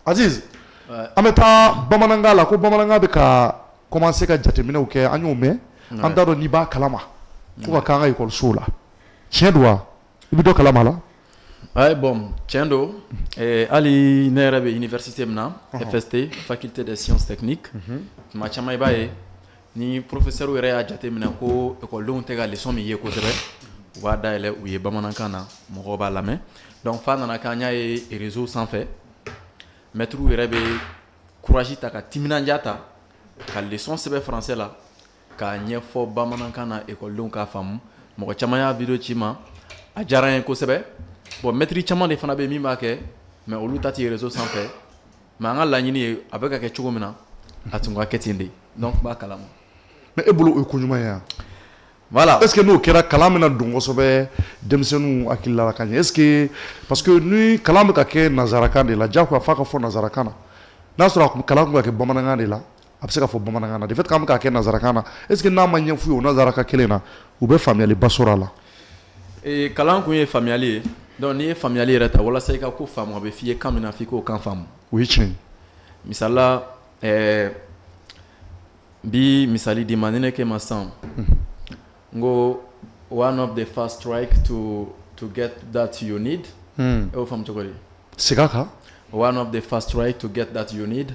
an bɛ taa bamanankan la ko bamanankan bɛ ka commencer ka jateminɛw kɛ an y'o mɛn an t'a dɔn n'i b'a kalama ko ka k'an ka écoleso la tiɲɛ don wa i bɛ dɔ kalama la ouais bon tiɲɛ don hali ne yɛrɛ bɛ université min na FST faculté des sciences techniques tuma caman i b'a ye Ni professeur yɛrɛ y'a jate minɛ ko écoledenw tɛ ka leçon min ye kosɛbɛ u b'a dayɛlɛ u ye bamanankan na mɔgɔ b'a lamɛn donc f'a nana kɛ an y'a ye réseau sanfɛ maître yɛrɛ bɛ courage ta ka timinandiya ta ka leçon sɛbɛn français la k'a ɲɛfɔ bamanankan na écoledenw k'a faamu mɔgɔ caman y'a vidéo ci n ma a diyara n ye kosɛbɛ bon maître caman de fana bɛ min b'a kɛ mais olu ta tɛ ye réseau sanfɛ mais an ka laɲini ye a bɛ ka kɛ cogo min na a tun ka kɛ ten de donc n b'a kalama mais e bolo o ye ko ɲuman ye wa voilà est ce que n'o kɛra kalan bɛna don kosɛbɛ denmisɛnninw hakili la ka ɲɛ est ce que parce que ni kalan bɛ ka kɛ nazarakan de la jagoya f'a ka fɔ nazarakan na n'a sɔrɔ kalan tun bɛ ka kɛ bamanankan de la a bɛ se ka fɔ bamanankan na de fait k'an bɛ k'a kɛ nazarakan na est ce que n'a ma ɲɛ f'u ye o nazarakan kelen na u bɛ faamuyaliba sɔrɔ a la ee, kalan kun ye faamuyali ye donc n'i ye faamuyali yɛrɛ ta walasa i ka ko faamu a bɛ f'i ye kan min na f'i k'o kan faamu o ye tiɲɛ ye misali la ɛɛ n bi misali d'i ma ni ne k'e ma sisan n ko one of the fast track to to get that you need e y'o faamu cogo di segin a kan one of the fast track to get that you need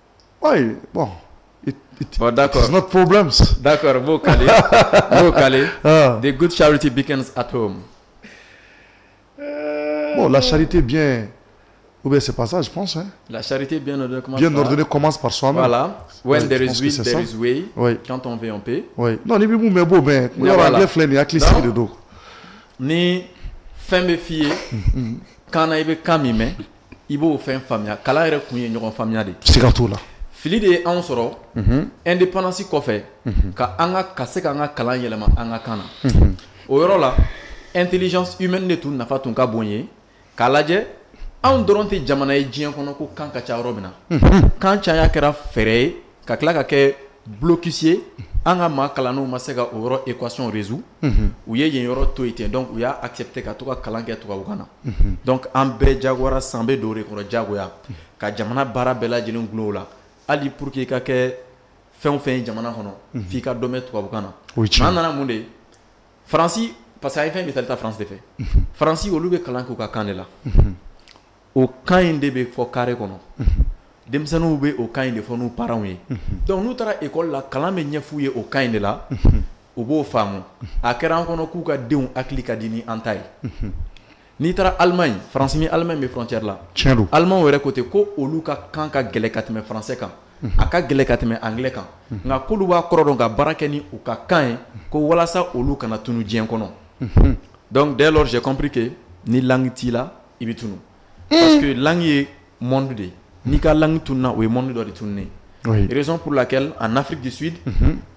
ayi bɔn da porobi da b'o kale de gu sari tɛ bi kɛ a to o la sari tɛ bi u bɛ se pasa la sari tɛ bi dɔrɔn kɔman a la jɔn fɛ yan pe ni bɛ bɛ b'o bɛn ne filɛ nin hakili sigi de don ni fɛn bɛ f'i ye kaana i bɛ kan min mɛn i b'o fɛn faamuya kalan yɛrɛ kun ye ɲɔgɔn faamuya de siga t'o la fili de ye anw sɔrɔ indépendance kɔfɛ ka an ka se k'an ka kalan yɛlɛma an ka kan na o yɔrɔ la intelligence humaine de tun nafa tun ka bon ye k'a lajɛ anw dɔrɔn tɛ jamana ye diɲɛ kɔnɔ ko kan ka ca yɔrɔ min na kan caya kɛra fɛɛrɛ ye ka tila ka kɛ blocus ye an ka maa kalannenw ma se ka o yɔrɔ équation résoudre u ye yen yɔrɔ to yen ten donc u y'a accepté ka to ka kalan kɛ tubabukan na donc an bɛɛ jagoyara sisan bɛ don o de kɔrɔ jagoya ka jamana baara bɛɛ lajɛlen gulon o la hali pour que i ka kɛ fɛn o fɛn ye jamana kɔnɔ f'i ka dɔ mɛn tubabukan na an nana mun de ye Faransi parce que a ye fɛn misali ta Faransi de fɛ Faransi olu bɛ kalan kɛ u ka kan de la. o kan in de bɛ fɔ carré kɔnɔ denmisɛnninw bɛ o kan in de fɔ n'u parents ye donc n'u taara école la kalan bɛ ɲɛ f'u ye o kan in de la u b'o faamu a kɛra an kɔnɔ k'u ka denw hakili ka di ni an ta ye n'i taara Allemagne faransi ni Allemagne bɛ frontière la allemand yɛrɛ ko ten ko olu ka kan ka gɛlɛn ka tɛmɛ français kan a ka gɛlɛn ka tɛmɛ anglais kan nka k'olu b'a kɔrɔ dɔn ka baara kɛ ni u ka kan ye ko walasa olu kana tunun diɲɛ kɔnɔ donc dès lors j'ai compris que ni langue t'i la i bɛ tunu parce que langue ye monde de ye n'i ka langue tununa o ye monde dɔ de tununen ye raison pour laquelle en Afrique du Sud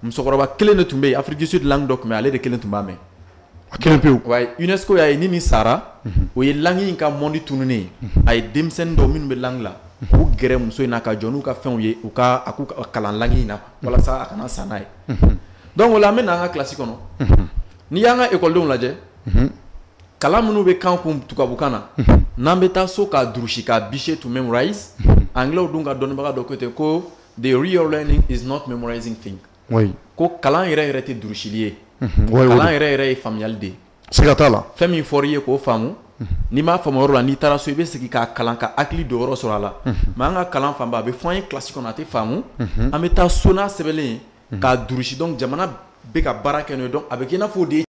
musokɔrɔba kelen de tun bɛ ye Afrique du Sud langue dɔ tun bɛ ye ale de kelen tun b'a mɛ a kelen pewu wayi UNESCO y'a ye ni nin sara o ye langue in ka monde tununen ye a ye denmisɛnnin dɔ minnu bɛ langue la k'u gɛrɛ muso in na ka jɔ n'u ka fɛnw ye u ka a k'u kalan langue in na walasa a kana sa n'a ye donc o la an bɛ na an ka classe kɔnɔ n'i y'an ka école denw lajɛ. kalan minnu bɛ k'an kun tubabukan na n'an bɛ taa so k'a durusi k'a bûcher to memorize anglais dun ka dɔnnibaga dɔ ko ten ko the real learning is not memorizing thing ko kalan yɛrɛ yɛrɛ tɛ durusili ye kalan yɛrɛ yɛrɛ ye faamuyali de ye siga t'a la fɛn min fɔra i ye k'o faamu n'i m'a faamu yɔrɔ la n'i taara so i bɛ sigi k'a kalan ka hakili dɔ wɛrɛ sɔrɔ a la mais an ka kalan fanba a bɛ fɔ an ye classe kɔnɔ a tɛ faamu an bɛ taa so n'a sɛbɛnlen ye k'a durusi donc jamana bɛ ka baara kɛ n'o ye donc a bɛ k'i n'a fɔ o de ye